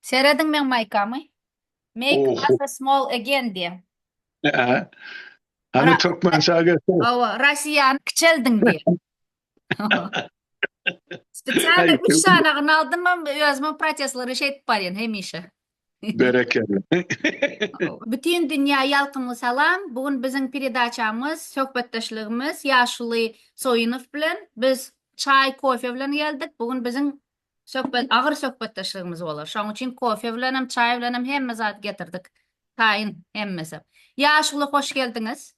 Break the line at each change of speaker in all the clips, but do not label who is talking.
Serediň meň maýkamy. Make Russia small
again
diýen. Hany
türkmençä geçsene. Hawa, Russiýany
kiçeldiň diýen. Spesialny üç sanagyny aldym hem özümiň protestlary şeýdip barýan hemişe. Berekella. Bütin dünýä ýalkymly salam. Bu gün biziň peredaçamyz, söhbetdeşligimiz ýaşuly Soýunow bilen. Biz çaý, kofe bilen geldik. Bu gün biziň Söhbet, agyr söhbetdeşligimiz bolar. Şoň üçin kofe bilenem, çaý bilenem hemme zady getirdik. Taýyn hemmesi. Ýaşuly, hoş geldiňiz.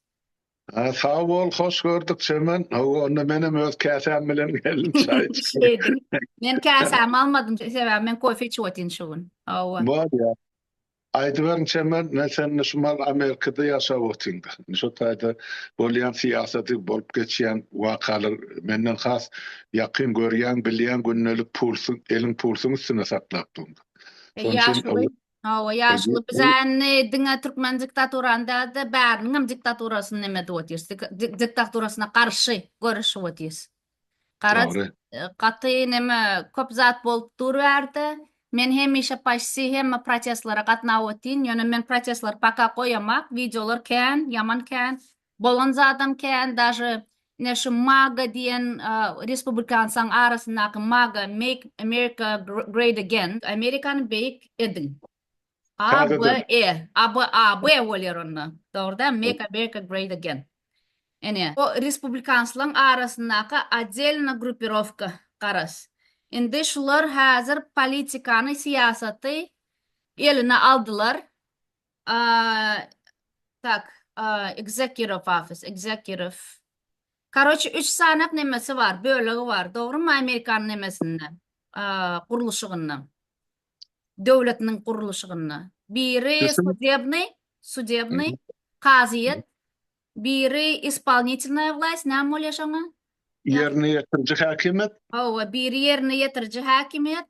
Sag
bol, hoş gördük Çemen. Hawa, onda menem öz käsäm bilen geldim, çaý içdim. Men
käsämi almadym, sebäbi men kofe içip otyryn şu gün. Hawa. Bolýar.
Aýdyberiň Çemen men sende Şumal Amerikada ýaşap otyrynda şo taýda bolýan syýasaty bolup geçýän wakalar menden has ýakyn görýäň bilýäň gündelik pulsy eliň pulsuň üstünde saklap durynda şonuň üçin
Hawa ýaşuly
biz
indi diňe türkmen diktaturany dälde bäriniňem diktaturasyny neme edip otyrys diktaturasyna garşy göreşip otyrys. Garaz, Dogry. gaty
neme,
köp zat bolup dur bu ýerde. Men hemişe paşsi hemme protestlere gatnap otyn, ýöne men protestleri paka goýamak, wideolar kän, ýaman kän, bolan zadam kän, daže ine şu maga diýen respublikansaň arasyndaky maga, make America great again, Amerikany beýik ediň. ABE, ABAB bolýar onda. Dogry däl, Make America Great Again. Ine, o respublikanslaryň arasyndaky odelna grupirowka, garaz. Indi şular häzir politikany, syýasaty eline aldylar. Tak, Executive Office, Executive. Karoçi, üç sanak nemesi bar, bölegi bar, dogrymy, amerikan nemesinde, gurluşygynda. döwletiniň gurluşygynda. Biri sudebnyý, sudebnyý, kazyýet, biri ispolnitylnaýa wlaýst, näme bolýar şoňa? Ýerine
ýetiriji häkimiýet. Hawa, biri ýerine
ýetiriji häkimiýet,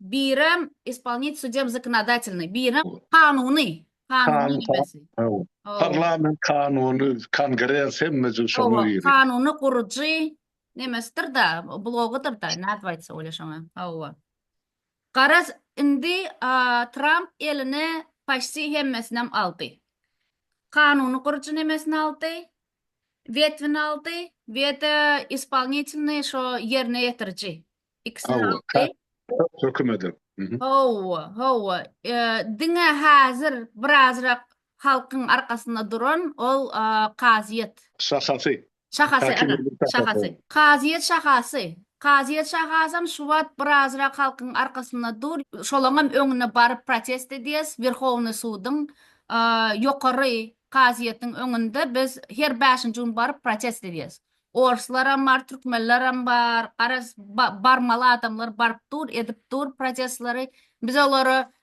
birem ispolnit sudem zknadatelnyý, birem kanuny, kanuny ýermesi. Hawa. Parlament
kanuny, kongres hemme jüz şoňa girýär. Hawa, kanuny gurujy
nemesidir-da, blogydyr-da, nädip aýtsa bolýar şoňa? Hawa. Garaz indi Tramp eline paşti hemmesinem aldy. Kanuny guryjy nemesini aldy, wetvini aldy, wede ispolnitilny şo ýerine ýetiriji ikisini aldy. Hökümedi.
Howwa, howwa.
Diňe hazir birazrak halkyň arkasynda duran ol kazyýet. Şahasy.
Şahasy, ana, şahasy.
Kazyýet şahasy. Kazyýet şahasam şu wagt birazrak halkyň arkasynda dur, şolaňam öňüne baryp protest edýäs, Werhownyý suduň, ýokary kazyýetiň öňünde biz her bäşinji gün baryp protest edýäs. Orslaram bar, türkmenlerem bar, garaz, barmaly adamlar baryp dur, edip dur protestleri. Biz olara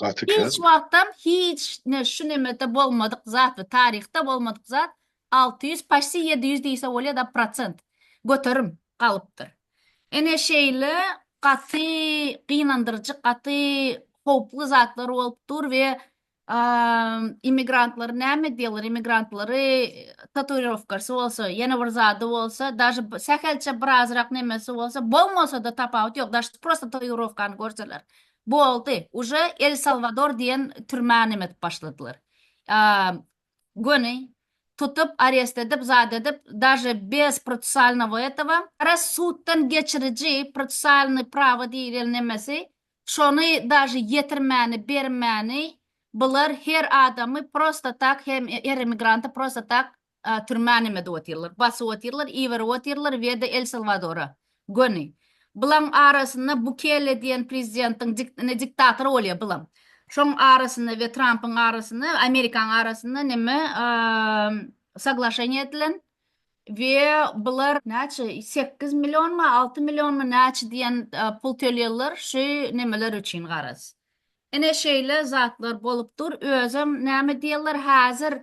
Gaty kän. Hiç wagtam hiç ne şu nemede bolmadyk zat we taryhda bolmadyk zat alty ýüz paşti ýedi ýüz diýse bolýa da prosent göterim galypdyr. Ene şeýle gaty gynandyryjy gaty howply zatlar bolup dur we immigrantlar näme diýerler immigrantlary tatuirowkasy bolsa ýene bir zady bolsa daže sähelçe birazrak nemesi bolsa bolmasa da tapawut ýok daže prosta tatuirowkany görseler Boldy uje el salwador diýen türmä nemet başladylar göni tutup arest edip zat edip daže bez procesalnogo etowa gara suddan geçiriji procesalny prawa diýilen nemesi şony daže ýetirmäni bermäni bular her adamy prosta tak her emigranty prosta tak A. Türmä näme edip otyrlar? Basyp otyrlar, iberip otyrlar we de El Salwadora. Göni. Bulaň arasynda Bukele diýen prezidentiň dik, indi diktator bolýa bulam. Şoň arasynda we Trampyň arasynda, Amerikaň arasynda näme, a, soglaşeniýa edilen we bular näçe, sekiz millionmy, alty millionmy näçe diýen pul tölýärler şu nämeler üçin garaz. Ine şeýle zatlar bolup dur, özem näme diýerler häzir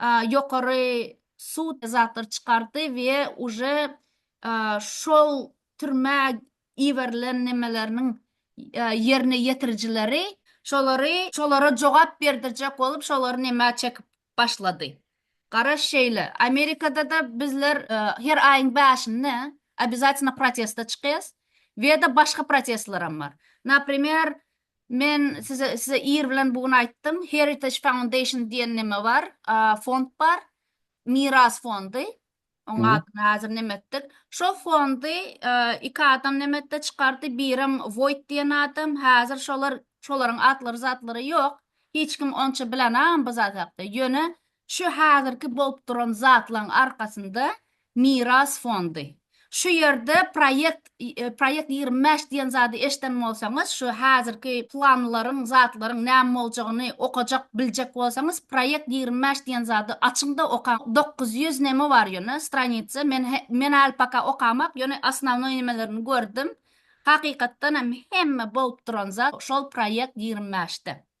ýokary sud zatlar çykardy we uje şol türmä iberilen nemeleriniň ýerine ýetirijileri şolary şolara jogap berdirjek bolup şolary neme çekip başlady garaş şeýle amerikadada bizler her aýyň bäşinde obýazatynda proteste çykyas weda başga protestleram bar naprimer Men size size ir bilen bu gün aýtdym, Heritage Foundation diýen neme bar, fond bar, Miras fondy, oň adyny häzir neme etdik. Şo fondy iki adam neme etdi, çykardy, birem Voýt diýen adam, häzir şolar, şolaryň atlary-zatlary ýok, hiç kim onça bilenagam bu zat hakda. Ýöne Şu häzirki bolup duran zatlaryň arkasynda Miras fondy. Şu ýerde proýekt proýekt ýigrimi bäş diýen zady eşden bolsaňyz, şu häzirki planlaryň, zatlaryň näme boljagyny okajak, biljek bolsaňyz, proýekt ýigrimi bäş diýen zady açyň-da okaň. Dokuz ýüz neme bar ýöne stranitsa, men men häli poka okamak, ýöne osnownoý nemelerini gördüm. Hakykatdan hem hemme bolup duran zat şol proýekt ýigrimi bäşde.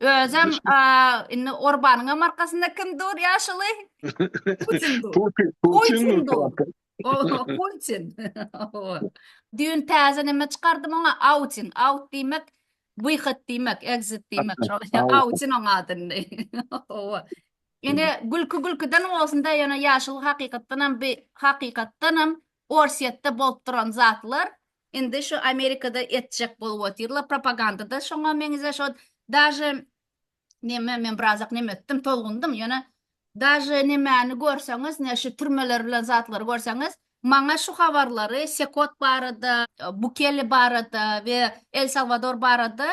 Özem indi Orbanyňam arkasynda kim dur ýaşuly? Putin dur. Putin dur. Putin. Düýn täze näme çykardym oňa outing, out diýmek, wyhat diýmek, exit diýmek. Şol outing oň adyny. Hawa. Indi gülki gülkiden bolsunda ýöne ýaşuly hakykatdanam bi hakykatdanam Orsýetde bolup duran zatlar Indi şu Amerikada etjek bolup otyrlar propagandada şoňa meňze şo daže neme men birazak neme etdim tolgundym ýöne daže nemäni görseňiz ne şu türmeler bilen zatlary görseňiz maňa şu habarlary sekot barada bukele barada we el salwador barada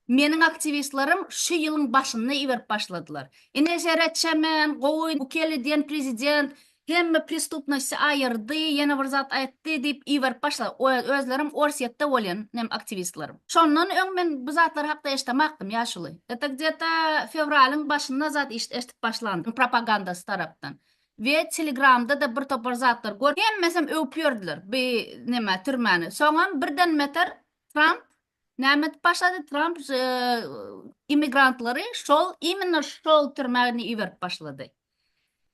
Meniň aktiwistlerim şu ýylyň başynda iberip başladylar. Ine seret çemen, gowy, bu keli diýen prezident hemme prestupnosty aýyrdy, ýene bir zat aýtdy diýip iberip başladylar. Özlerim Orsýetde bolýan meniň aktiwistlerim. Şondan öň men bu zatlar hakda eşdemakdym ýaşuly. Eta gde-ta fewralyň başynda zat eşdip başlandym propagandasy tarapdan. We telegramda-da bir topar zatlar görüp, hemmesem öwüp ýördiler bi neme türmäni. Soňam birden meter Tramp Nämet başlady Tramp immigrantlary şol imенно şol türmäni iberip başlady.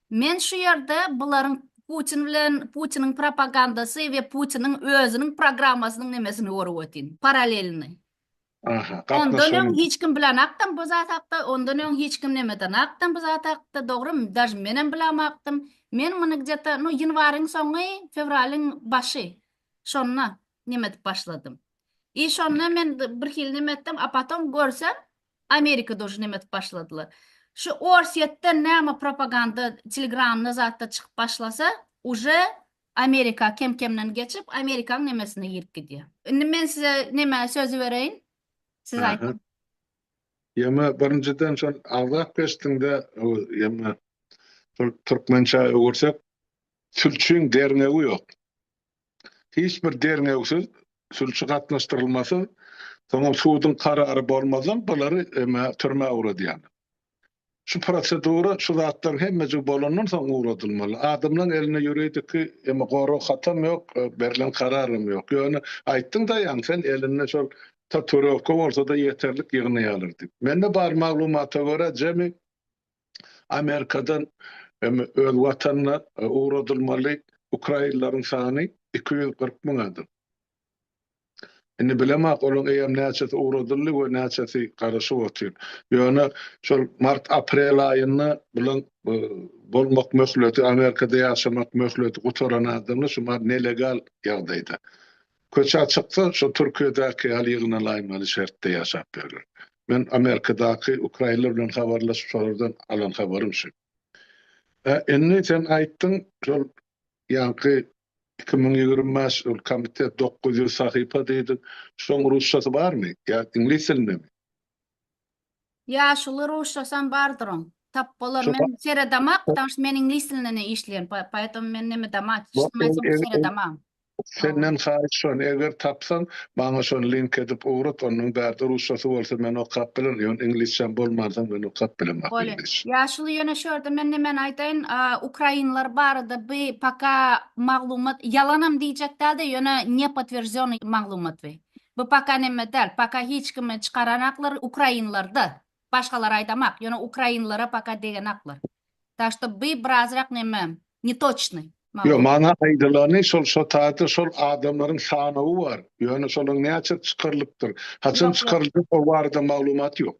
Men şu ýerde bularyň Putin bilen Putiniň propagandasy we Putiniň özüniň programmasynyň nemesini görüp ötin. Paralelni. Aha,
Ondan öň hiç
kim bilen akdym bu zat hakda, ondan öň hiç kim nemeden akdym bu zat hakda, dogrymy? Daj men hem bilam akdym. Men muny gdeta, no ýanwaryň soňy, fewralyň başy. Şonda neme edip başladym. I şonda men bir hili neme etdim, a potom görsem Amerika dojy neme edip başladylar. Şu Orsýetden näme propaganda telegramda zatda çykyp başlasa, uje Amerika kem-kemden geçip, Amerikanyň nemesine girip gidýär. Indi men size neme sözi bereýin. Siz aýdyň. Ýöne
birinjiden şol agzap geçdiňde, ýöne türkmençä öwürsek, sülçüň derňewi ýok. hiç bir derňewsiz sülçi gatnaşdyrylmasa, soňam suduň karary bolmazdan bulary emä türmä ugradýarlar. Şu prosedura şu zatlaryň hemmejigi bolandan soň ugradylmaly. Adamlaryň elinde ýuridiki emä gorag hatam ýok, berlen kararam ýok. Ýöne aýtdyň daýaň sen elinde şol tatuirowka bolsada ýeterlik ýygnaýarlar diýip. Mende bar maglumata görä jemi Amerikadan öz watanyna ugradylmaly ukrainleriň sany iki ýüz kyrk müň adam. Indi bilemok, olaryň eýýäm näçesi ugradyldy we näçesi garaşyp otyr. Ýöne şol mart-aprel aýynda bulaň bolmak möhleti, Amerikada ýaşamak möhleti gutaran adamlar şumat nelegal ýagdaýda. Köçä çyksa şo Türkiýedäki ýaly ýygnalaýmaly şertde ýaşap ýörler. Men Amerikadaky ukrainler bilen habarlaşyp şolardan alan habarym şu. Hä indi sen aýtdyň şol ýaňky iki müň ýigrimi bäş ol komitet dokuz ýüz sahypa diýdiň şoň rusçasy barmy ýa iňlis dilindemi? Ýaşuly
ruşçasam bardyryň. Tap bolar men seredama
потому
что men iňlis dilinde işleýän poetom men neme damat seredama. Senden
haýyş şon eger tapsan maňa şon link edip ugrat onuň bärde ruşçasy bolsa men okap bilen ýon iňlisçem bolmansoň men okap bilen. Bolýa ýaşuly ýöne
şu ýerde men nemeni aýdaýyn ukrainler barada by paka maglumat ýalanam diýjek dälde ýöne nepotwierdzionny maglumat by. Bu paka neme dal, paka hiç kimi çykaranaklar ukrainlarda, başgalar aydamak, yöne ukrainlara paka degenaklar. Tak şto by birazrak neme, netoçnyy. Ýok, maňa
aýdylany şol şo taýda şol adamlaryň sanawy bar, ýöne şolaň näçesi çykarylypdyr, haçan çykaryljak o barada maglumat ýok.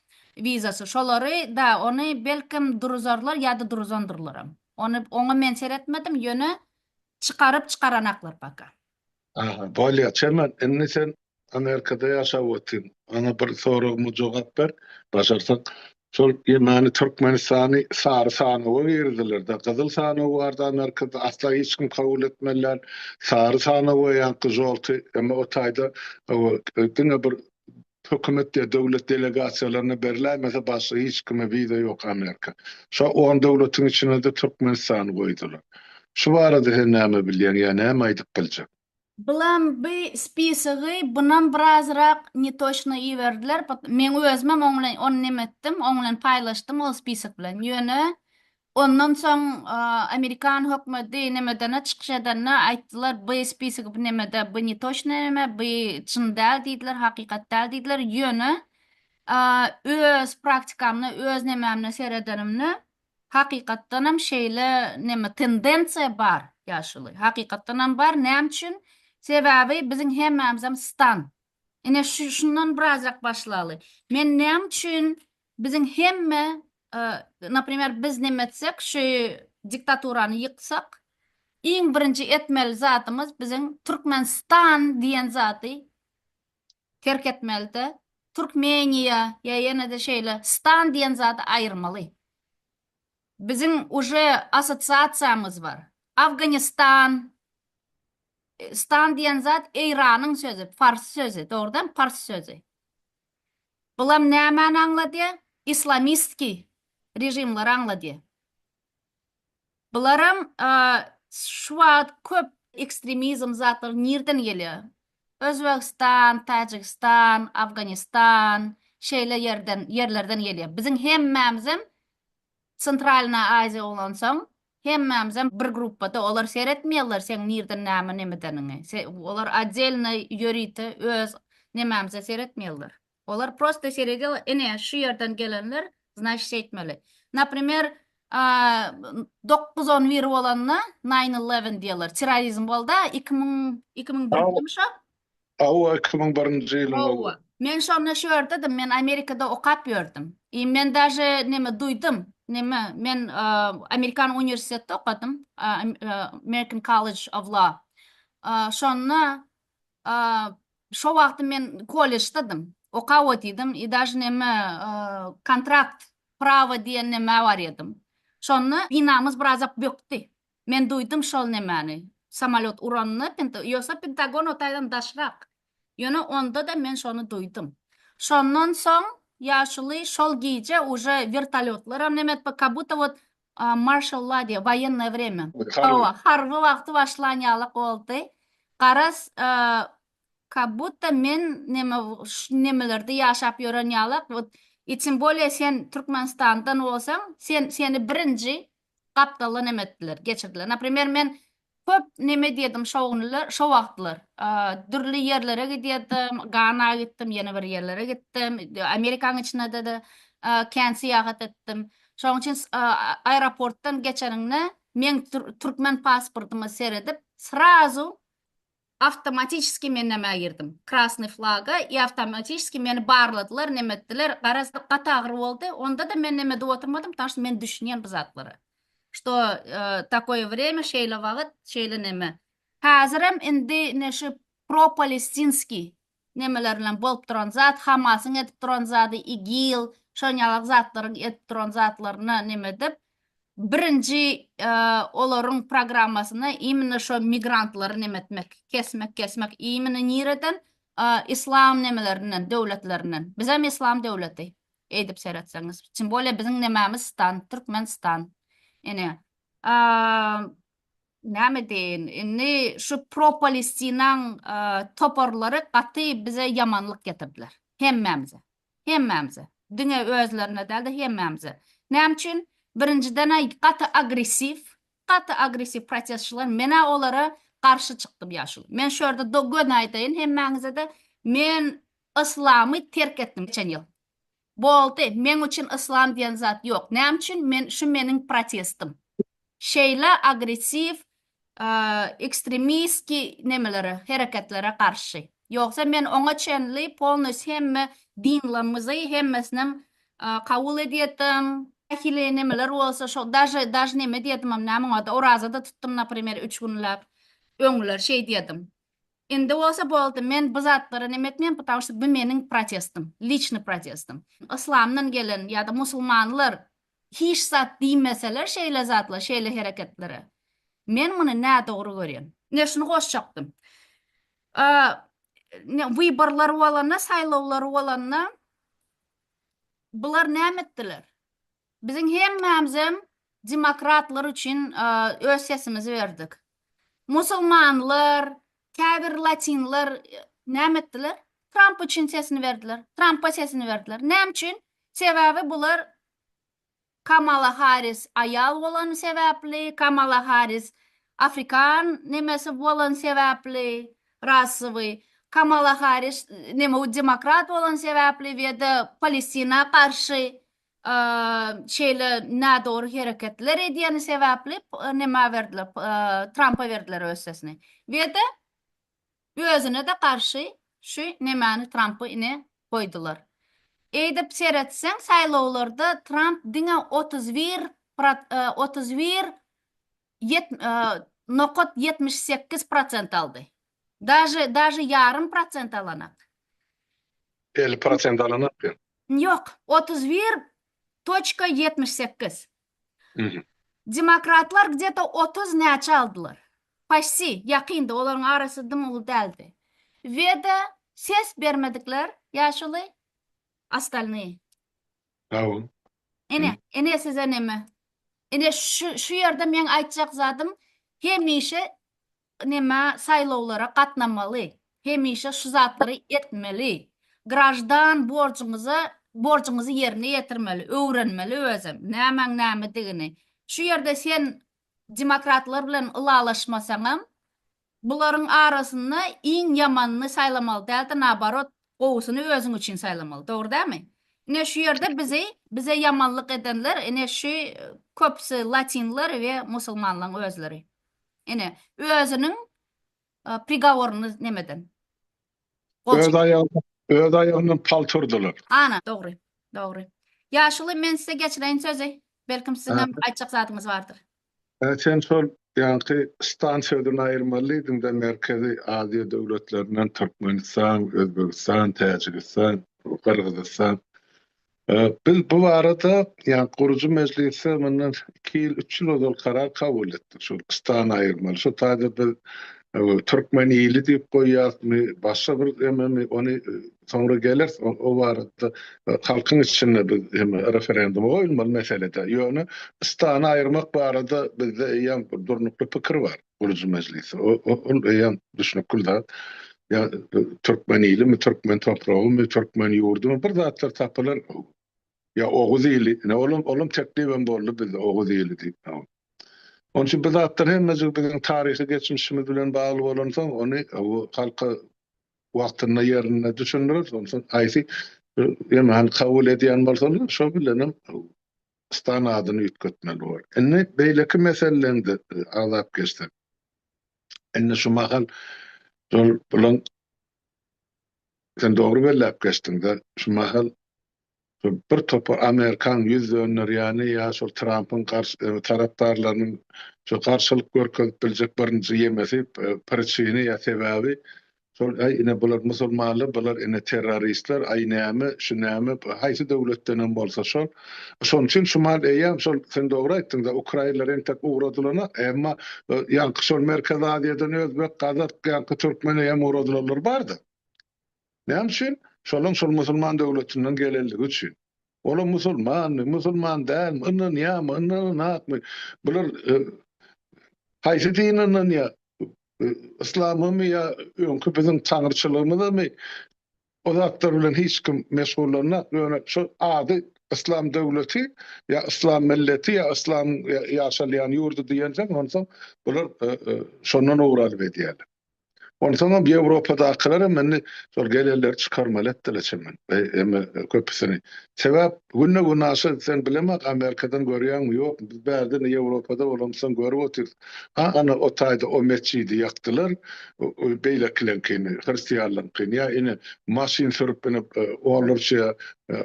wizasy şolary da ony belkem duruzarlar ýada duruzandyrlaram ony oňa men seretmedim ýöne çykaryp çykaranaklar paka. Aha
bolýa Çemen indi sen Amerikada ýaşap otyň maňa bir soragyma jogap ber başarsaň şol ýemeni Türkmenistany sary sanawa girizdilerda gyzyl sanaw bardy Amerikada asla hiç kim kabul etmeli däl sary sanawa ýaňky žolty emma o taýda diňe bir Hökümet ya döwlet delegasiýalaryna beriläýmese başga hiç kime wiza ýok Amerika. Şo on döwletiň içinede Türkmenistany goýdular. Şu barada sen näme bilýäň ýa näme aýdyp biljek. Bilen by
spisogy bunam birazrak netoçno iberdiler, meň özümem oň bilen ony neme etdim, oň bilen paýlaşdym ol spisok bilen, ýöne Ondan soň Amerikan hökmedi nemedene çykyş edende aýtdylar by spisigi by nemede by netoçnyý neme by çyn däl diýdiler hakykat däl diýdiler ýöne öz praktikamda öz nemämde seredenimde hakykatdanam şeýle neme tendensiýa bar ýaşuly hakykatdanam bar näme üçin sebäbi biziň hemmämizem stan ine şundan birazrak başlaly men näme üçin Biziň hemme naprimer biz neme etsek şu diktaturany ýyksak iň birinji etmeli zadymyz biziň Türkmenistan diýen zady terk etmelide Türkmeniýa ýa ýenede şeýle stan diýen zady aýyrmaly biziň uje assotsiasiýamyz bar Afganistan stan diýen zat Eýranyň sözi fars sözi dogrudan pars sözi Bulam nämäni aňladýa? Islamistki režimleri aňladýa. Bularam şu wagt köp ekstremizm zatlary nirden gelýa? Özbegistan, Tajigistan, Afganistan şeýle ýerden ýerlerden gelýa. Biziň hemmämizem Centralna Aziýa bolansoň Hemmämizem bir gruppada olar seretmeýärler seň nirden näme nemedeniňi se olar oddelno ýörite öz nemämize seretmeýärler olar prosta seredýa ine şu ýerden gelenler znaşit şeýtmeli naprimer a dokuz on bir bolanda nine eleven diýerler çirrorizm bolda iki müň iki müň dört müň şo Hawa iki
müň birinji ýylyň ol. Hawa. Men şonda şu
ýerdedm men Amerikada okap ýördüm. I men daže neme duýdym neme men Amerikan uniwersitetde okadym American College of Law. Şonda şo wagty men kolleždedym okap otydym i daže neme kontrakt prawa diýen neme bar edym. Şonda binamyz birazak bökdi. Men duýdum şol nemäni. Samolýot uranda, penta, ýogsa Pentagon o taýdan daşrak. Ýöne onda-da men şony duýdum. Şondan soň ýaşuly şol gije uje wertolýotlaram neme etip, kabutta wot marşal la diýýär, woýennoýe wremýa. Hawa, harby wagty başlan ýaly boldy. Garaz, kabutta men neme, şu nemelerde ýaşap ýören ýalak, wot, i tym bolýa sen Türkmenistandan bolsaň, sen, seni birinji Gapdalda neme etdiler, geçirdiler. Naprimer, men köp neme edýärdim şo günler, şo wagtlar. Dürli ýerlere gidýärdim, Gana gitdim, ýene bir ýerlere gitdim, Amerikanyň içinde-de kän syýahat etdim. Şonuň üçin aeroportdan geçeniňde, meň türkmen pasportyma seredip, srazu Awtomatiçeskiý men nämä girdim? Krasnyý flaga i awtomatiçeskiý meni barladylar, neme etdiler. Garaz, gaty agyr boldy. Onda-da men neme edip oturmadym, ptaň şto men düşünýän bu zatlara. Şto takoýe wremýa, şeýle wagyt, şeýle neme. Häzirem indi ine şu propalestinskiý nemeler bilen bolup duran zat hamasyň edip duran zady igil şon ýalak zatlaryň edip duran zatlaryna neme edip birinji olaryň programmasyna imine şo migrantlary neme etmek kesmek kesmek imine nireden islam nemelerinden döwletlerinden bizem islam döwleti eýdip seretseňiz timbolýa biziň nememiz stan türkmen stan ine Näme deýin, indi şu pro-Palestinaň toparlary gaty bize ýamanlyk getirdiler. Hemmämize. Hemmämize. Diňe özlerine däl-de, hemmämize. Näme üçin? Birinjiden-ä gaty agressiw, gaty agressiw protestçiler. Men-ä olara garşy çykdym ýaşuly. Men şu ýerde göni aýdaýyn hemmäňize-de, men yslamy terk etdim geçen ýyl. Boldy, meň üçin yslam diýen zat ýok. Näme üçin? Men şu meniň protestim. Şeýle agressiw, ekstremistki nemelere, hereketlere garşy. Ýogsa men oňa çenli polnus hemme dinlrmizi hemmesinem kabul edýedim. Nähili nemeler bolsa şo daže daž neme diýedimem näme oňada oraza-da tutdym naprimer üç günläp. Öňler şeý diýedim. Indi bolsa boldy men bu zatlara neme etmeýän потому şta bu meniň protestim liçny protestim yslamdan gelen ýada musulmanlar hiç zat diýmeseler şeýle zatla şeýle hereketlere men muny nädogry görýän. Ne şuny goşjakdym. Ne wyborlar bolanda saýlawlar bolanda bular näme etdiler. Biziň hemmämizem demokratlar üçin öz sesimizi berdik. Musulmanlar, käbir latinler näme etdiler? Tramp üçin sesini berdiler. Trampa sesini berdiler. Näme üçin? Sebäbi bular Kamala Harris aýal bolany sebäpli, Kamala Harris afrikan nemesi bolany sebäpli, rasowy, Kamala Harris neme demokrat bolany sebäpli we de Palestina garşy şeýle nädogry hereketler edýäni sebäpli nämä berdiler Trampa berdiler öz sesini wede özüne-de garşy şu nämäni Trampy ine goýdular. Eýdip seretseň saýlawlarda Tramp diňe otuz bir otuz bir nokat ýetmiş sekiz prosent aldy. Daže daže ýarym prosent alanak.
Elli prosent alanak diýen. Ýok,
otuz bir toçka ýetmiş sekiz. Mhm.
Demokratlar
gdeta otuz näçe aldylar. Paşsi, ýakyndy, olaryň arasy dym uly däldi. Weda ses bermedikler, ýaşuly, ostalnyý.
Hawa. Ine,
ine size neme. Ine şu şu ýerde meň aýtjak zadym hemişe neme saýlawlara gatnamaly hemişe şu zatlary etmeli graždan borjuňyza borjuňyzy ýerine ýetirmeli öwrenmeli özem nämäň nämedigini şu ýerde sen demokratlar bilen ylalaşmasaňam bularyň arasynda iň ýamanyny saýlamaly dälde naobarot gowusyny özüň üçin saýlamaly dogry dälmi ine şu ýerde bizi bize ýamanlyk edenler ine şu köpüsi latinler we musulmanlaň özleri. Ine, özüniň prigoryny nemeden. Öz aýagyny,
öz aýagyndan paltyrdylar. Ana, dogry,
dogry. Ýaşuly, men size geçireýin sözi. Belkim siziň hem aýtjak zadyňyz bardyr. Hä, sen şol
ýaňky stansiýadan aýyrmalydyň-da, Merkezi Aziýa döwletlerinden Türkmenistan, Özbegistan, Täjigistan, Gyrgyzystan. Biz bu barada, ýagny gurujy mejlisde mundan iki ýyl, üç ýyl ozal karar kabul etdik, şol stan aýyrmaly. Şu taýda biz türkmen ili diýip goýýarysmy, başga bir ememi, ony soňra geleris, o barada halkyň içinde biz hem referenduma goýulmaly meselede. Ýöne stany aýyrmak barada bizde eýýäm bir durnukly pikir bar. gurujy mejlisi. O, o, ol eýýäm düşnükli zat. Ýa e, türkmen ilimi, türkmen topragymy, türkmen ýurdumy bir zatlar tapylar. Ýa oguz ili, ne olam olam teklip hem boldy bizde oguz ili diýip. tamam. Onun için bu zatlar hemmejik bizim tarihi geçmişimiz bilen bağlı olansa onu e, bu halka vaktinde yerine düşündürür. Ondan aýsy yani hani kabul edýän bolsalar şo bilen hem stan adyny üýtgetmeli boldy. Indi beýleki meseleleňde agzap geçsek. Indi şu mahal şol bulaň sen dogry belläp geçdiňde şu mahal bir topar amerikan ýüz dönderýäni ýa şol trampyň garşy tarapdarlarynyň şu garşylyk görkezip biljek birinji ýemesi priçini ýa sebäbi Şol aý ine bular musulmanlar bular ine terroristler aý näme şu näme haýsy döwletdenem bolsa şol şonuň üçin şumal eýýäm şol sen dogry aýtdyňda ukrainler entek ugradylana emma ýaňky şol merkezi aziýadan özbek gazak ýaňky türkmen eýýäm ugradylanlar bardy näme üçin şolaň şol musulman döwletinden gelenligi üçin. Olar musulmanmy, musulman dälmi, ynanýarmy, ynananakmy, bular haýsy dine ynanýar, yslamymy ýa öňki biziň taňryçylygymyzamy, o zatlar bilen hiç kim meşgullanýak, ýöne şu ady yslam döwleti ýa yslam milleti ýa yslamyň ýaşalýan ýurdy diýensoň, onsoň bular şondan owralyp edýärler. Onsoňam Ýewropadakylar hem indi şol gelenleri çykarmaly etdiler çemen. Emma köpüsini. Sebäp günde günaşa sen bilemek Amerikadan görýäňmi ýokmy? Biz bärde indi Ýewropada bolamyzsoň görüp otyrys. Ha ana o taýda o metjidi ýakdylar. Beýlekileňkini, hristianlaryňkyny ýa ine maşyn sürüp ine onlarça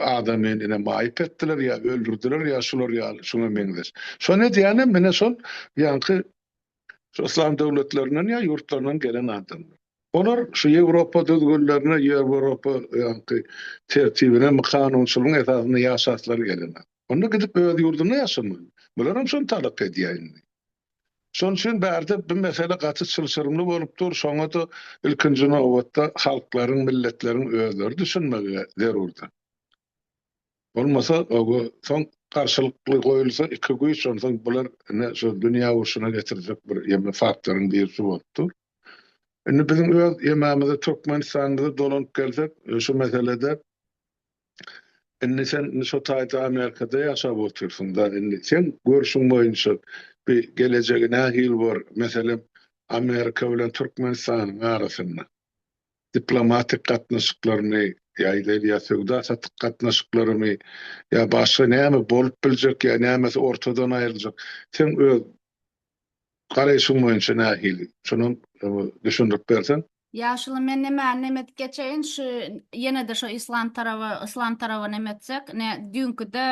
adamy ine maýyp etdiler ýa öldürdiler ýa şular ýaly şuňa meňzeş. Şony edýänem ine şol ýaňky şu yslam döwletlerinden ýa ýurtlaryndan gelen adamlar. Olar şu Ýewropa düzgünlerine, Ýewropa ýaňky tertibine, kanunçylygyň esasynda ýaşaslar gelene. Onda gidip öz ýurdunda ýaşamaly. Bularam şony talap edýär indi. Şonuň üçin bärde bu mesele gaty çylşyrymly bolup dur. Şoňa-da ilkinji nobatda halklaryň, milletleriň özleri düşünmegi zerurdyr. Bolmasa oba soň garşylykly goýulsa iki güýç onsoň bular ine şu dünýä urşuna getirjek bir ýeme faktoryň birisi bolup dur. Indi biziň öz ýememize Türkmenistanymyza dolanyp gelsek şu meselede indi sen şo taýda Amerikada ýaşap otyrsyňda indi seň görşüň boýunça bi gelejegi nähili bor meselem Amerika bilen Türkmenistanyň arasynda? diplomatik gatnaşyklarymy ýa-da ýa söwda-satyk gatnaşyklarymy ýa başga näme bolup biljek ýa nämesi ortadan aýryljak seň öz garaýşyň boýunça nähili şonam düşündirip berseň. Ýaşuly men
nemäni neme edip geçeýin şu ýenede şo islam taraba islam taraba neme etsek ne düýnkide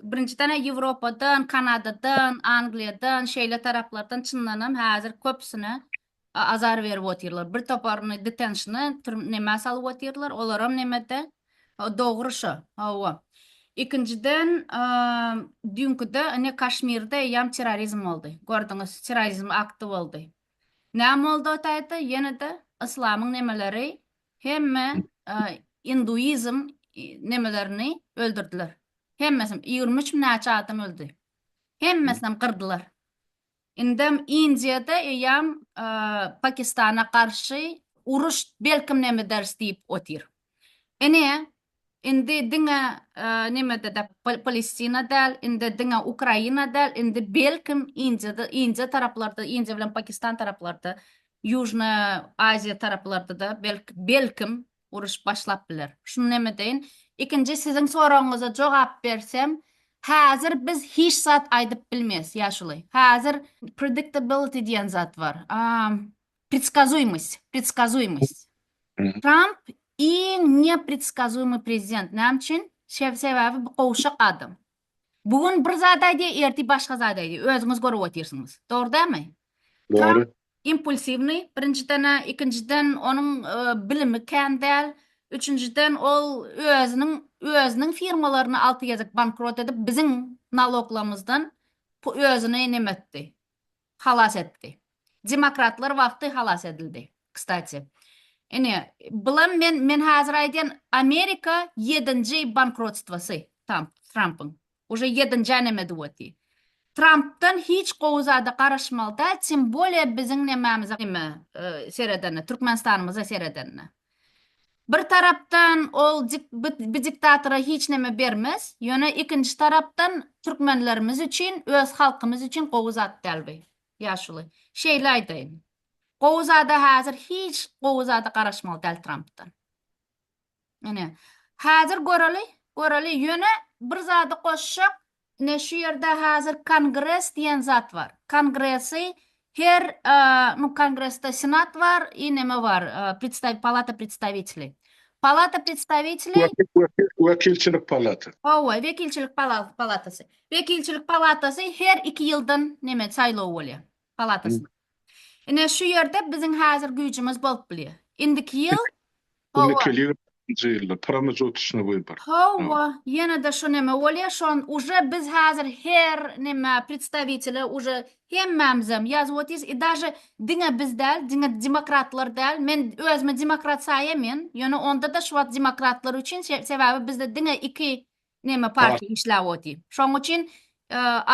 birinjiden he ýewropadan kanadadan angliýadan şeýle taraplardan çyndanam häzir köpüsine azar berip otyrlar bir toparyny detenşna türm nämä salyp otyrlar olaram nemede ho dogry şo hawa ikinjiden düýnküde ine kaşmirde eýýam terrorizm boldy gördüňiz terrorizm akty boldy näme boldy o taýda ýenede yslamyň nemeleri hemme induizm nemelerini öldürdiler hemmesini ýigrimi üç mi näçe adam öldi hemmesinem gyrdylar Indem Indiýada eýýäm Pakistana garşy uruş belkim nemederis diýip otyr. Ine, indi diňe nemede-de Palestina däl, indi diňe Ukraina däl, indi belkim Indiýada, Indiýa taraplarda, Indiýa bilen Pakistan taraplarda, Ýužnyýa Aziýa taraplarda-da belkim uruş başlap biler. Şuny näme deýin? Ikinji siziň soragyňyza jogap bersem, häzir biz hiç zat aýdyp bilmeýäs, ýaşuly. Häzir predictability diýen zat bar. Predskazuýmost, predskazuýmost. Tramp iň nepredskazuýmy prezident. Näme üçin? Şe-sebäbi bu gowşak adam. Bu gün bir zat aýdýar, ertir başga zat aýdýar. Özüňiz görüp otyrsyňyz. Dogry dälmi? Dogry.
Impulsiwnyý,
birinjiden-ä, ikinjiden onuň bilimi kän däl, üçünjiden ol özüniň özüniň firmalaryny alty gezek bankrot edip, biziň naloglarymyzdan özüni näme etdi? Halas etdi. Demokratlar wagty halas edildi. Kstati. Ine, bulam men men hazir aýdýan Amerika ýedinji bankrotstwasy Tamp, Trampyň. Uje ýedinji aneme duweti. Trampdan hiç gowy zada garaşmaly däl, tim bolýa biziň nemämize, nime, seredende, Türkmenistanymyza seredende. Bir tarapdan ol bdiktatora hiç neme bermez, ýöne ikinji tarapdan türkmenlerimiz üçin, öz halkymyz üçin gowy zat däl bu. Ýaşuly, şeýle aýdaýyn. Gowy zada häzir hiç gowy zada garaşmaly däl Trampdan. Ine, häzir göreli, göreli, ýöne bir zady goşjak, Ine şu ýerde hazir kongres diýen zat bar. Kongresi her nu kongresde senat bar i neme bar predstaw palata predstawiteli. Palata predstawiteli. Wekilçilik
palata. Howwa wekilçilik
palatasy. Wekilçilik palatasy her iki ýyldan neme saýlaw bolýar. palatasyna. Ine, şu ýerde biziň häzir güýjümiz bolup bilýär. Indiki ýyl, Onda kelýär nji
ýylda, pramejotçnyý wybory. Hawa, ýene-de
şu neme bolýar, şon uje biz häzir her neme predstawitele uje hemmämizem ýazyp otyrys i daže diňe biz däl, diňe demokratlar däl, men özümi demokrat saýamyn, ýöne onda-da şu wagt demokratlar üçin, sebäbi bizde diňe iki Neme parti işläp oty. Şoň üçin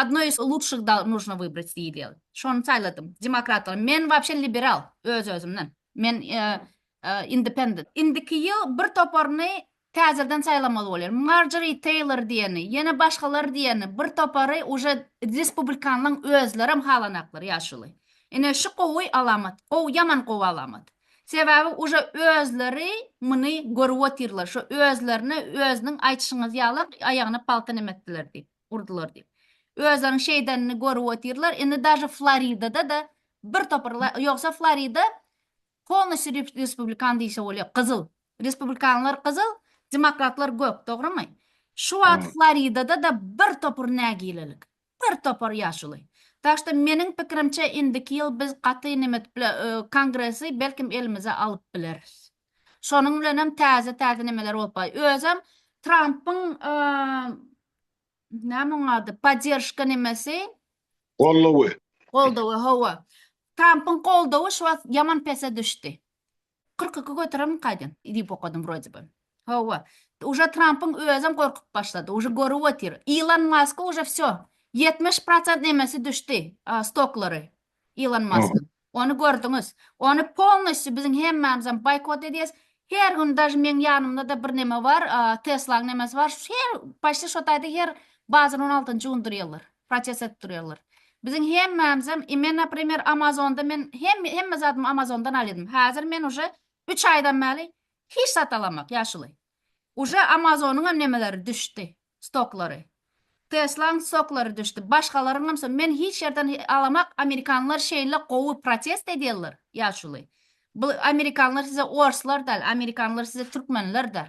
Odno iz lutşih da nuşno wybrat diýilýär. Şony saýladym. Demokratlar. Men wapşe liberal öz özümden. Men independent. Indiki ýyl bir toparyny täzeden saýlamaly bolýar. Marjori Teýlor diýeni, ýene başgalar diýeni bir topary uje respublikanlaň özlerem halanaklar ýaşuly. Ine şu gowy alamat. Gowy ýaman gowy alamat. Sebäbi uje özleri muny görüp otyrlar, şo özlerine özüniň aýtyşyňyz ýaly aýagyna palta nem etdiler diýip, urdular diýip. Özleriniň şeýdenini görüp otyrlar, indi daže Floridada-da bir topar ýogsa Florida polnosýu respublikan diýse bolýar, gyzyl. Respublikanlar gyzyl, demokratlar gök, dogrymy? Şu wagt Floridada-da bir topar nägilelik. Bir topar ýaşuly. Tak što meniň pikirimçe indiki ýyl biz gaty nemet bile kongresi belkim elimize alyp bileris. Şonuň bilenem täze täze nemeler bolup bay. Özem Trampyň näme oň ady podderžka nemesi. Goldawy.
Goldawy
hawa. Trampyň goldawy şu wagt ýaman pese düşdi. Kyrk iki götererin kaýdan diýip okadym wrode by. Hawa. Uje Trampyň özem gorkup başlady. Uje görüp otyr. Ilon Maska uje wsyo. Ýetmiş prosent nemesi düşdi stoklary Ilon Maskyň. Ony gördüňiz. Ony polnostyu biziň hemmämizem boýkot edýäs. Her gün daž meň ýanymda-da bir neme bar. Teslaň nemesi bar. Her paşti şo taýda her bazar on altynjy gündir ýyldyr. Proses edip durýarlar. Biziň hemmämizem i men naprimer amazonda men hemme hemme zadymy amazondan alýadym häzir men uje üç aýdan bäli hiç zat alamak ýaşuly uje amazonyňam nemeleri düşdi stoklary teslaň stoklary düşdi başgalaryňam so men hiç ýerden alamak amerikanlar şeýle gowy protest edýärler ýaşuly bu amerikanlar size orslar däl amerikanlar size türkmenler däl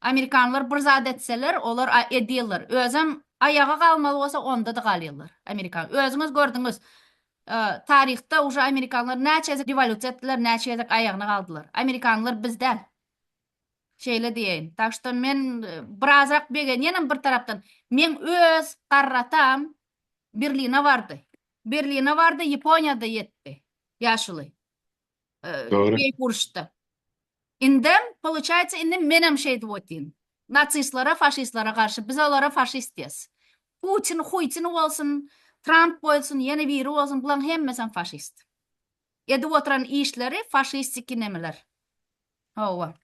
Amerikanlar bir zat etseler olar edýäler özem aýaga galmaly bolsa ondada galýalar amerikan özüňiz gördüňiz taryhda uje amerikanlar näçe gezek rewolýusiýa etdiler näçe gezek aýagyna galdylar amerikanlar biz däl şeýle diýeýin tak şto men birazrak begenýänem bir tarapdan meň öz garratam berline bardy berline bardy ýaponiýada ýetdi ýaşuly
Dogry. Beýik uruşda.
Indem, poluçaýsa, indi menem şeýdip otyryn. Nasistlere, faşistlere garşy, biz olara faşist diýeris. Putin, Huýtin bolsun, Tramp bolsun, ýene biri bolsun, bulaň hemmesem faşist. Edip oturan işleri faşistiki nemeler. Hawa.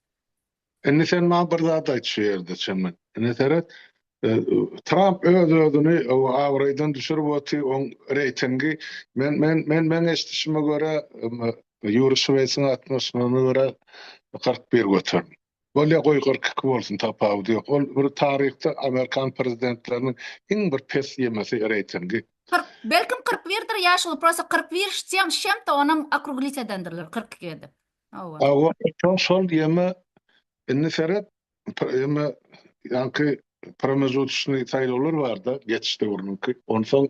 Indi sen maňa bir zat aýt şu ýerde çemen. Ine seret, Tramp öz-özüni abraýdan düşürip oty, oň reýtingi men men men meň eşdişime görä Ýuri Şweýsiň altmyş nona görä kyrk bir göterin. Bolýa goý kyrk iki bolsun tapawudy ýok. Ol bir taryhda amerikan prezidentleriniň iň bir pes ýemesi reýtingi. Kyrk belkim kyrk
birdir ýa şul prosta kyrk bir ştýem şemte onam okruglitýedendirler kyrk iki edip. Hawa. Hawa,
şol şol ýeme indi seret ýeme ýaňky promezutçnyý saýlawlar barda geçiş döwrüniňki. Onsoň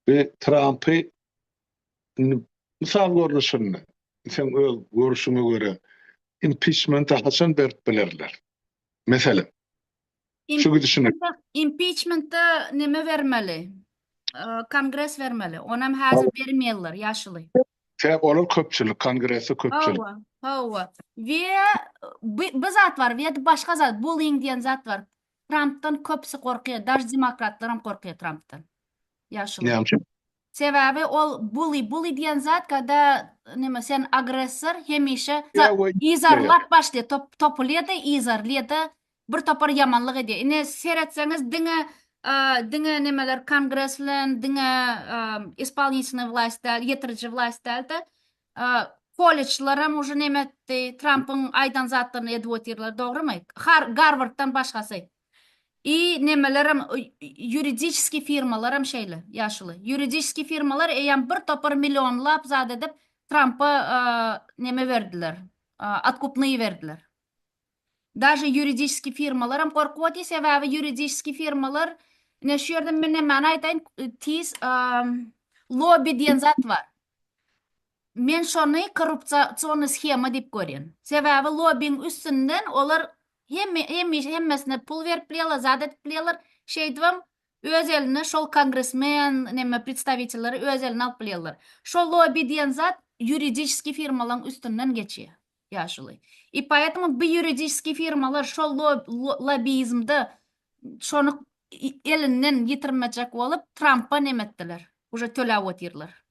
bi Trampy indi mysal görnüşinde seň öz görüşiňe görä impiçmenta haçan berip bilerler? Meselem. Şu gidişine. Impiçmente
neme bermeli? Kongres bermeli. Onam häzir bermeýärler ýaşuly. Tä olar
köpçülik, kongresi köpçülik. Hawa,
hawa. We bu zat bar, we başga zat, bullying diýen zat bar. Trumpdan köpsi gorkýar, daş demokratlar hem gorkýar Trumpdan. Ýaşuly. Näme üçin? Sebäbi
ol
bully, bully diýen zat kada näme sen agressor hemişe izarlap
başlaýar,
top, topulýar-da, izarlaýar-da, Bir topar ýamanlyk edýär. Ine seretseňiz diňe diňe nemeler kongres bilen diňe ispolnitnýy wlast däl, ýetiriji wlast dälde. Kollejlaram uje neme etdi, Trampyň aýdan zatlaryny edip otyrlar, dogrymy? Har Garwarddan başgasy. I nemelerem ýuridiskiý firmalaram şeýle, ýaşuly. Ýuridiskiý firmalar eýýäm bir topar millionlap zat edip Trampa neme berdiler, otkupnyýy berdiler. Daže ýuridiski firmalaram gorkup otýar sebäbi ýuridiski firmalar ine şu ýerde men nämäni aýdaýyn tiz lobby diýen zat bar men şony korrupsiony shema diýip görýän sebäbi lobbiň üstünden olar hemme hemişe hemmesine pul berip bilýärler zat edip bilýärler şeýdibem öz eline şol kongresmen neme predstawitelleri öz eline alyp bilýärler şo lobby diýen zat ýuridiski firmalaň üstünden geçýär. ýaşuly. I poetому bu ýuridiskiý firmalar şol lobizmde şony elinden ýitirmejek bolup Trampa neme etdiler. Uje töläp otyrlar.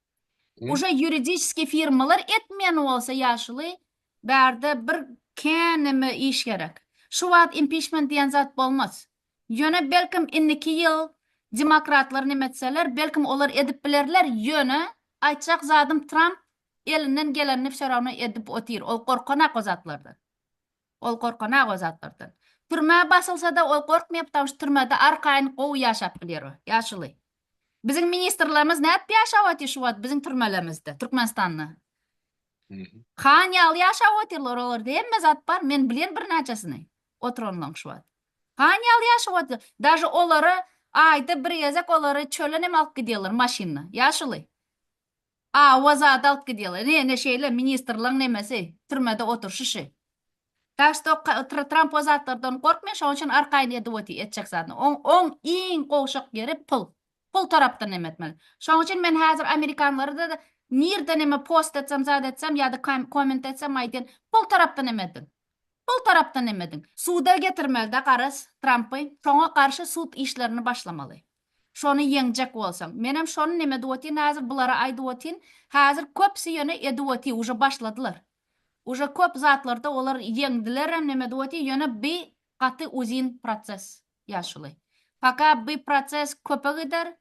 Uje ýuridiskiý firmalar etmeýän bolsa ýaşuly bärde bir kän neme iş gerek. Şu wagt impiçment diýen zat bolmaz. Ýöne belkim indiki ýyl demokratlar neme etseler belkim olar edip bilerler ýöne aýtjak zadym Tramp Elinden gelenini fşorawna edip otyr, ol gorkanak o zatlardan. Ol gorkanak o zatlardan. Türmä basylsada ol gorkmaýar ptamşy türmede arkaýyn gowy ýaşap bilýär o, ýaşuly. Biziň ministrlerimiz nädip ýaşap otyr şu wagt biziň türmelerimizde, Türkmenistanda? Han ýaly ýaşap otyrlar olarda hemme zat bar, men bilýän birnäçesini oturanlaň şu wagt. Han ýaly ýaşap otyr. Daže olary aýda bir gezek olary çölenem alyp gidýärler maşynda, ýaşuly. A oz adalt gidýaly. Ne ne şeýle ministrliň nemesi, türmede oturşyşy. Tak što Tramp o zatlardan gorkmay şoň üçin arkaýyn edip oty, etjek zadyny. Oň oň iň gowşak ýeri pul. Pul tarapdan neme etmeli. Şoň üçin men hazir amerikanlarda da nirde neme post etsem zat etsem ýada komment etsem aýdýan pul tarapdan neme ediň. Pul tarapdan neme ediň. Suda getirmelidä garaz Trampy. Şoňa garşy sud işlerini başlamaly. Şony ýeňjek bolsaň. Menem şony neme edip otyn hazir bulara aýdyp otyn hazir köpsi ýöne edip oty uje başladylar uje köp zatlarda olar ýeňdilerem neme edip oty ýöne bi gaty uzyn proces ýa şuly paka bi proces köpe gider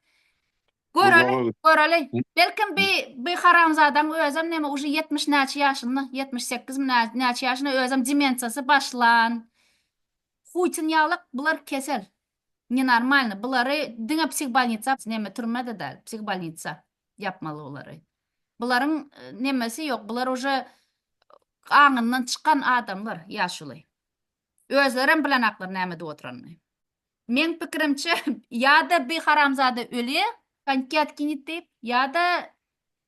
göreli göreli belkim bi bi haramzadaň özem neme uje ýetmiş näçe ýaşynda ýetmiş sekizmi nä näçe ýaşynda özem demensiýasy başlan huýtyn ýalak bular kesel Ne normalny bulary diňe psihbolnitsa neme türmede dal psihbolnitsa ýapmaly bulary bularyň nemesi ýok bular uje aňyndan çykan adamlar ýaşuly özlerem bilenaklar näme edip oturanyny meň pikirimçe ýada bi haramzada ölýä konkiatkinit diýip ýada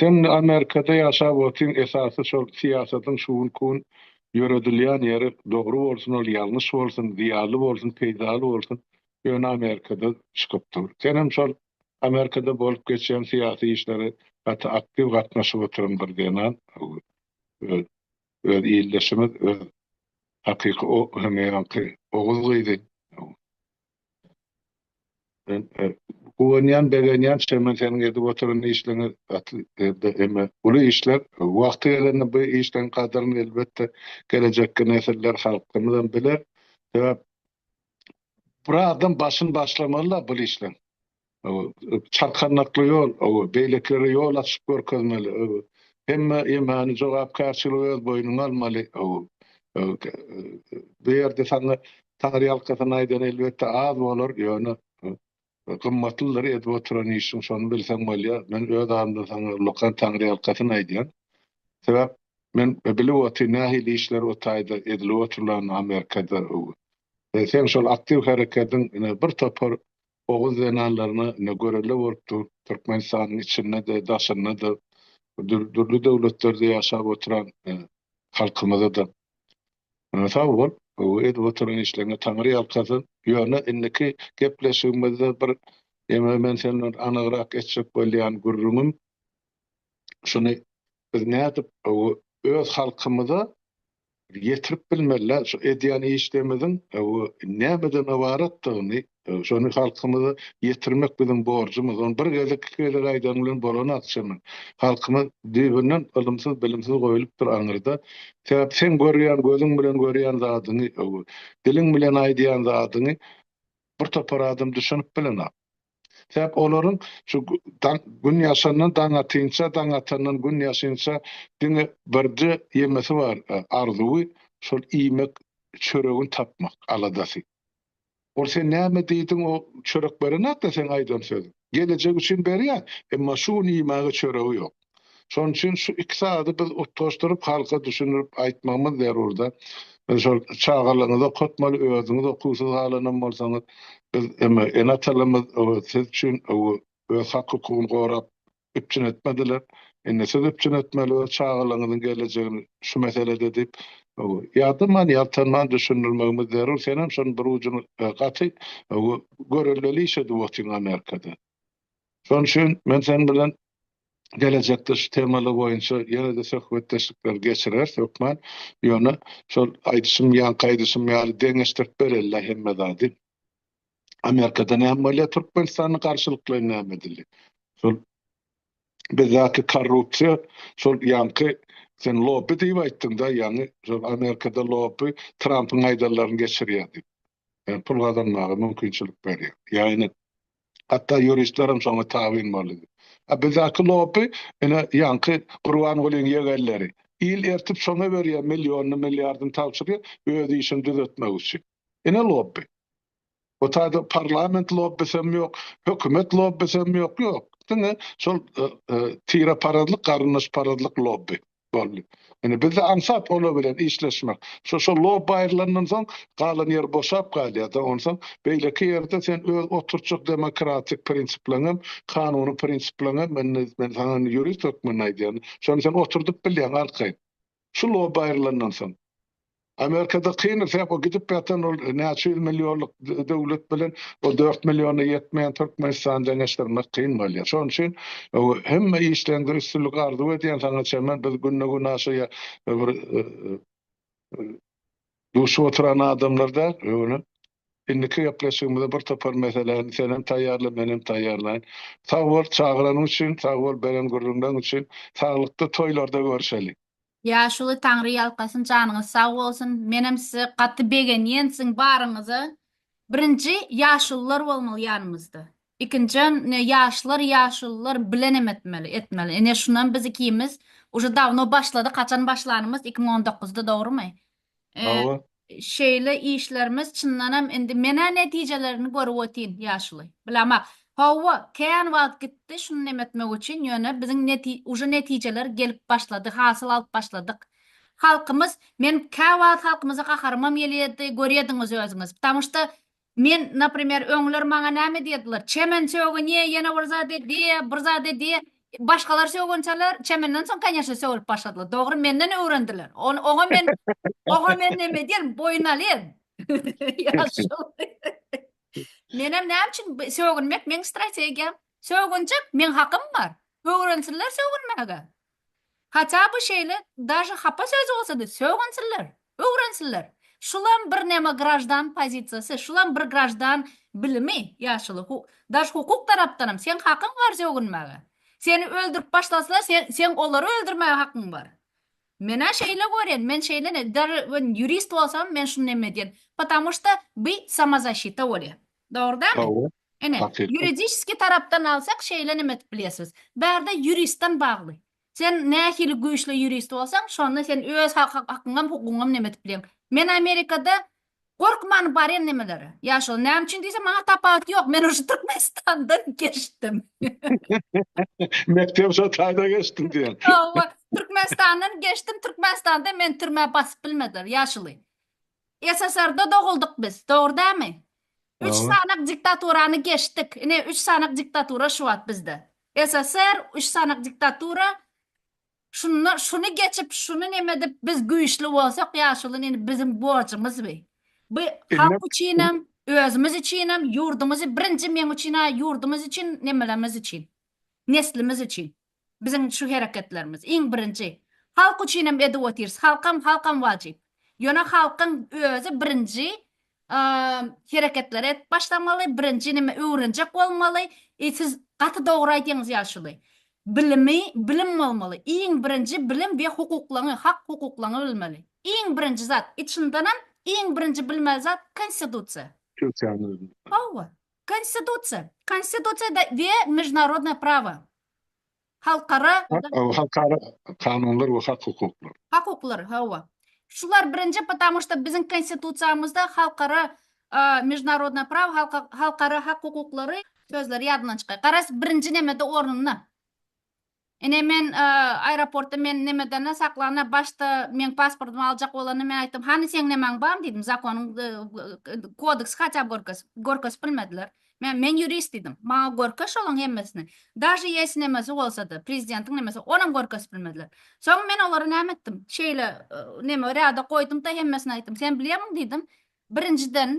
Sen Amerikada ýaşap otyň esasy şol syýasatyň şugun kun ýöredilýän ýeri dogry bolsun ol ýalňyş bolsun zyýaly bolsun peýdaly bolsun ýöne Amerikada çykyp dur senem şol Amerikada bolup geçýän syýasy işlere gaty aktiw gatnaşyp otyryň bir zenan öz öz ildeşimiz öz hakyky o hemýaňky oguz gyzy Men guwanýan, begenýän şemen seniň edip oturan işleňe gaty elde eme uly işler wagty gelende bu işleň gadyryny elbetde gelejekki nesiller halkymyzam biler sebäp bir adam başyny başlamalyda bul işleň. Çarkandakly ýol, beýlekilere ýol açyp görkezmeli. Hemme ýemany jogapkärçiligi öz boýnuňa almaly. Bu ýerde saňa taňryýalkasyn aýdan elbetde az bolar, ýöne gymmatlydyr edip oturan işiň, şony bilseň bolýar. Men öz adymdan saňa ullakan taňryýalkasyn aýdýan. Sebäp men bilip otyryn nähili işler o taýda edilip oturlanyny Amerikada. Seň şol aktiw herekediň ine bir topar Oguz zenanlaryna ine görelde bolup dur. Türkmenistanyň içinde-de, daşynda-da, dürli döwletlerde ýaşap oturan halkymyza-da sag bol, edip oturan işleriňe Taňry ýalkasyn. Ýöne indiki gepleşigimizde bir ýene men sen bilen anygrak etjek bolýan gürrüňim şuny, biz nädip öz halkymyza ýetirip bilmeliler. Şu edýän işlerimiziň nämeden ybaratdygyny, şony halkymyza ýetirmek biziň borjumyz. Ony bir gezek, iki gezek aýdan bilen bolan akçamy? Halkymyz düýbünden ylymsyz, bilimsiz goýlupdyr aňyrda. Sebäp sen görýän, gözüň bilen görýän zadyňy, diliň bilen aýdýan zadyňy bir topar adam düşünip bilenok. Sebäp olaryň şu gün ýaşandan daň atynça, daň atandan gün ýaşynça diňe birje ýemesi bar, arzuwy, şol iýmek, çöregini tapmak aladasy. Ol sen näme diýdiň o çörek berenakda seň aýdan sözüň. Gelejek üçin berýär, emma şu gün iýmäge çöregi ýok. Şonuň üçin şu iki zady biz utgaşdyryp halka düşündirip aýtmagymyz zerurda. Biz şol çagalaryňyzy okatmaly, özüňiz okuwsyz galanam bolsaňyz, biz eme ene-atalymyz siz üçin öz hak-hukugyny gorap üpjün etmediler. Indi siz üpjün etmeli öz çagalaryňyzyň gelejegini şu meselede diýip ýadaman, ýaltanman düşündirmegimiz zerur. Senem şonuň bir ujuny gaty görelgeli iş edip otyň Amerikada. Şonuň üçin men seniň bilen gelejekde şu temalar boýunça ýene-de söhbetdeşlikleri geçireris hökman. Ýöne şol aýdyşym, ýaňky aýdyşym ýaly deňeşdirip bereli-de hemme zady. Amerikada näme bolýar, Türkmenistanda garşylyklaýyn näme edildi? Şol bizdäki korrupsiýa, şol ýaňky sen lobby diýip aýtdyň-da, ýaňy şol Amerikada lobby Trampyň aýdanlaryny geçirýär diýip. we pul gazanmaga mümkinçilik berýär. Ýagny hatda ýuristlerem şoňa tabyn boldy. A bizdäki lobby ine ýaňky Gurbangulyň ýegenleri. Il ertip şoňa berýär, millionyny, milliardyny tabşyrýar, öz işini düzetmek üçin. Ine lobby. Bu taýda parlament lobbysem ýok, hökümet lobbysem ýok, ýok. Diňe şol tireparazlyk, garyndaşparazlyk lobby. boldy. Indi bizde aňsat olar bilen işleşmek. Şo şo lobby aýrylandan soň galan ýer boşap galýar-da, onsoň beýleki ýerde sen öz oturtjak demokratik prinsipleriň hem, kanuny prinsipleriň hem, indi men saňa indi ýurist hökmünde aýdýan, şony sen oturdyp bilýäň arkaýyn. Şu lobby aýrylandan soň. Amerikada kyn sebäp o gidip ýatan ol näçe ýüz millionlyk döwlet bilen o dört milliona ýetmeýän Türkmenistany deňeşdirmek kyn bolýar. Şonuň üçin hemme işleňde üstünlik arzuw edýän saňa Çemen biz günde gün aşaýa bir duşup oturan adamlar däl öňe indiki gepleşigimize bir topar meseläni sen hem taýýarla men hem taýýarlaýyn. Sag bol çagyranyň üçin sag bol beren gürrüňleň üçin saglykda toýlarda görüşeli. Ýaşuly
Taňry ýalkasyn janyňyz sag bolsun menem size gaty begenýen siziň baryňyza birinji ýaşulylar bolmaly ýanymyzda ikinjam ne ýaşlar ýaşulylar bilenem etmeli etmeli ine şunam biz ikimiz uje dawno başladyk haçan başlanymyz iki müň on dokuzda dogrymy Hawa.
Şeýle
işlerimiz çyndanam indi menä netijelerini görüp otyn ýaşuly. Bilemok. Hawa, kän wagt gitdi şuny neme etmek üçin, ýöne biziň neti uje netijeler gelip başlady, hasyl alyp başladyk. Halkymyz, men käwagt halkymyza gaharymam gelýärdi, görýädiňiz özüňiz. Ptamuşda Men, naprimer, öňler maňa näme diýerdiler, Çemen sögünýä, ýene bir zat edýä, bir zat edýä. Başgalar sögünçäler, Çemenden soň, kanýeşne, sögülip başladylar. Dogry, menden öwrendiler. Ony, oňa men, oňa men näme edýän, boýun alýan. Ýaşuly. Menem näme üçin bi, sögünmek meň strategiýam. Sögünjek, meň hakym bar. Öwrensinler sögünmäge. Haça by şeýle daže hapa söz bolsady sögünsinler, öwrensinler. Şulam bir neme graždan pozisiýasy, şulam bir graždan bilimi ýaşuly hu daž hukuk tarapdanam seň hakyň bar sögünmäge. Seni öldürip başlasalar sen seň olary öldürmäge hakyň bar. Menä şeýle görýän, men şeýle ne daže men ýurist bolsam men şuny neme edýän. Patamu şta by samozaşita bolýa. Dogrydanmy? Hawa. Ine, Hakykat. ýuridiski tarapdan alsak şeýle neme edip bilersiňiz. Bärde ýuristden bagly. Sen nähili güýçli ýurist bolsaň, şonda sen öz ha- ha- hakyňam, hukugyňam neme edip bileň. Men Amerikada gorkman barýan nemelere. Ýa şol näme üçin diýseň, maňa tapawut ýok. Men uje Türkmenistandan geçdim.
Mekdep şo taýda geçdim diýen. Hawa, Türkmenistandan
geçdim, Türkmenistanda meni türmä basyp bilmediler, ýaşuly. SSR-da doguldyk biz, dogry dämi? Üç Dogry. sanak diktaturany geçdik. Ine, üç sanak diktatura şu wagt bizde. SSR, üç sanak diktatura. Şunda şuny geçip, şuny neme edip biz güýçli bolsak, ýaşuly nini biziň borjumyz bi. Bu Ine- halk üçinem, özümiz üçinem, ýurdumyzy birinji meň üçin-ä ýurdumyz üçin, nemelerimiz üçin, neslimiz üçin. Biziň şu hereketlerimiz, iň birinji, halk üçin hem edip otyrys, halkam, halkam wajyp. Ýöne halkyň özi birinji hereketleri edip başlamaly, birinji nime öwrenjek bolmaly, e siz gaty dogry aýdýaňyz ýaşuly. Bilimi, bilim bolmaly, iň birinji bilim we hukuklaňy, hak hukuklaňy bilmeli. Iň birinji zat, içindenem iň birinji bilmeli zat konstitusiýa. Türkiýäniň özünde. Hawa. Konstitusiýa, Konstitusiýa da we Mežunarodnoe prawo, Halkara, Halkara
kanunlar we hak hukuklar. Hak hukuklar, hawa.
Şular birinji, patamu şda biziň Konstitusiýamyzda Halkara, Mežunarodnoe prawo, Halka, Halkara hak hukuklary sözleri ýadyndan çykaý. Garaz, birinji nämede ornunda. Ine men aeroportda men nemedana saklana başda meň pasportymy aljak bolanda men aýtdym hany seň nemäň bar diýdim zakonyň kodeksi haçap görkez görkezip bilmediler men men ýurist diýdim maňa görkez şolaň hemmesini daže ýesi nemesi bolsada prezidentiň nemesi onam görkezip bilmediler soň men olara näme etdim şeýle neme rada goýdumda hemmesini aýtdym sen bilýärmiň diýdim birinjiden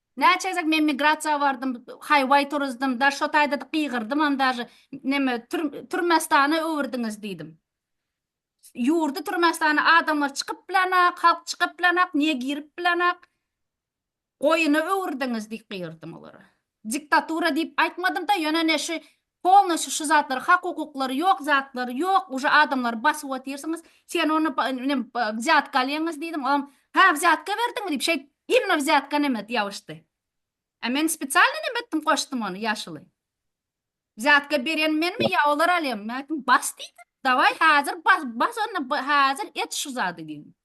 Näçe gezek men migrasiýa bardym, haýwaý turuzdym, da şo taýda-da gygyrdymam dažy, neme, Türmestana öwürdiňiz diýdim. Ýurdy Türmestana adamlar çykyp bilenok, halk çykyp bilenok, niýe girip bilenok? Goýuna öwürdiňiz diýip gygyrdym olara. Diktatura diýip aýtmadym-da, ýöne ne şu Polnoşi şu zatlar hak hukuklary ýok zatlar ýok uje adamlary basyp otyrsyňyz sen ony inem wzýatka alýaňyz diýdim olam ha wzýatka berdiňmi diýip şeýt imno wzýatka neme ýabyşdy a men spesialno neme etdim goşdum ony ýaşuly wzýatka berýän menmi ýa olar alýamy men aýtdym bas diýdim dawaý hazir bas bas onda hazir et şu zady diýdim.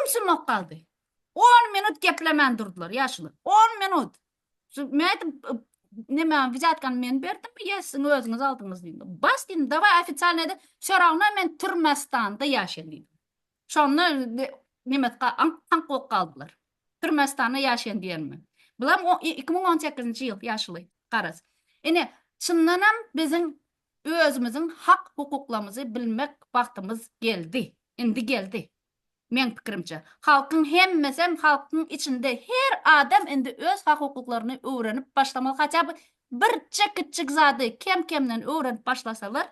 Ümsümok galdy. On minut geplemän durdylar ýaşuly. On minut. Men aýtdym, neme, wizýatkany men berdimmi, ýa siziň özüňiz aldyňyz diýdim. Bas diýdim, dawaý ofisialnyý ede, soragyna men Türmestanda ýaşaýan diýdim. Şonda nemesga aňk-taňk bolup galdylar. Türmestanda ýaşaýan diýenime. Bulam iki müň on sekizinji ýyl ýaşuly, garaz. Ine, çyndanam biziň Özümiziň hak hukuklamyzy bilmek wagtymyz geldi. Indi geldi. Meň pikirimçe. Halkyň hemmesem halkyň içinde her adam indi öz hak hukuklaryny öwrenip başlamaly haçaby bir çe kiçjik zady kem kemden öwrenip başlasalar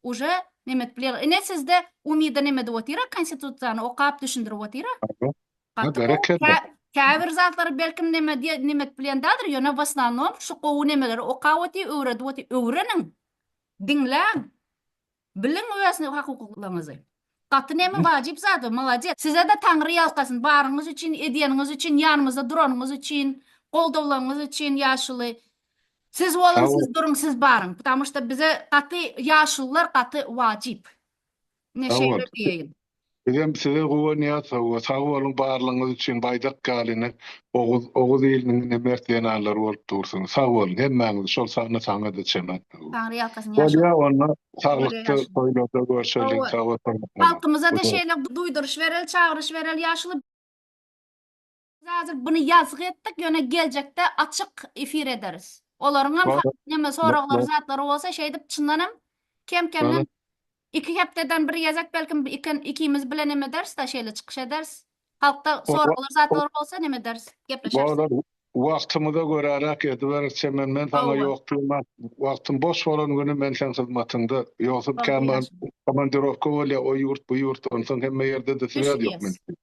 uje nemet bilýärler. Ine sizde umyda nemet otyra konstitusiýany okap düşündirip otyra. Gaty gowy. Käbir zatlary belkim neme diýe nimet bilen däldir, ýöne w osnownom şu gowy nemeleri okap otyr, öwredip otyr. Öwreniň. Diňläň. Biliň öz hukuklaryňyzy. Gaty neme wajyp zat bu. Molodec. Sizede Taňry ýalkasyn. Baryňyz üçin, edýäniňiz üçin, ýanymyzda duranyňyz üçin, goldawlaryňyz üçin ýaşuly. Siz boluň, siz duruň, siz baryň. Ptamuşda bize gaty ýaşulylar gaty wajyp. Ine şeýle diýeýin. Bizem size
guwanýas hawa sag boluň barlygyňyz üçin baýdak ýaly ine oguz oguz iliniň ine mert zenanlary bolup dursuňyz sag boluň hemmäňiz şol sanda saňada çenat hawa. Taňry ýalkasyn ýaşa. Bolýa
onda saglykda
toýlarda görşeliň sag bol. Halkymyza-da şeýle duýduryş bereli
çagyryş bereli ýaşuly. Biz häzir buny ýazgy etdik, ýöne geljekde açyk efir ederis. Olaryň hem Bar. neme soraglary, Bar. zatlary bolsa şeýdip çyndan hem kem-kemden Bar. iki hepdeden bir gezek belki iken ikimiz bile neme ederis-de şeýle çykyş ederis. Halkda Bar. soraglar, zatlar bolsa neme ederis, gepleşeris. Bar. Wagtymyza
göräräk ediberis Çemen. Men saňa Hawa. ýok diýmän, wagtym boş bolan güni men seň hyzmatyňda. Ýogsam Bar, kän bar, ýaşuly. komandirowka bolýar, o ýurt, bu ýurt, onsoň hemme ýerde-de Ýaşuly, sweat ýok ýaşuly. mende.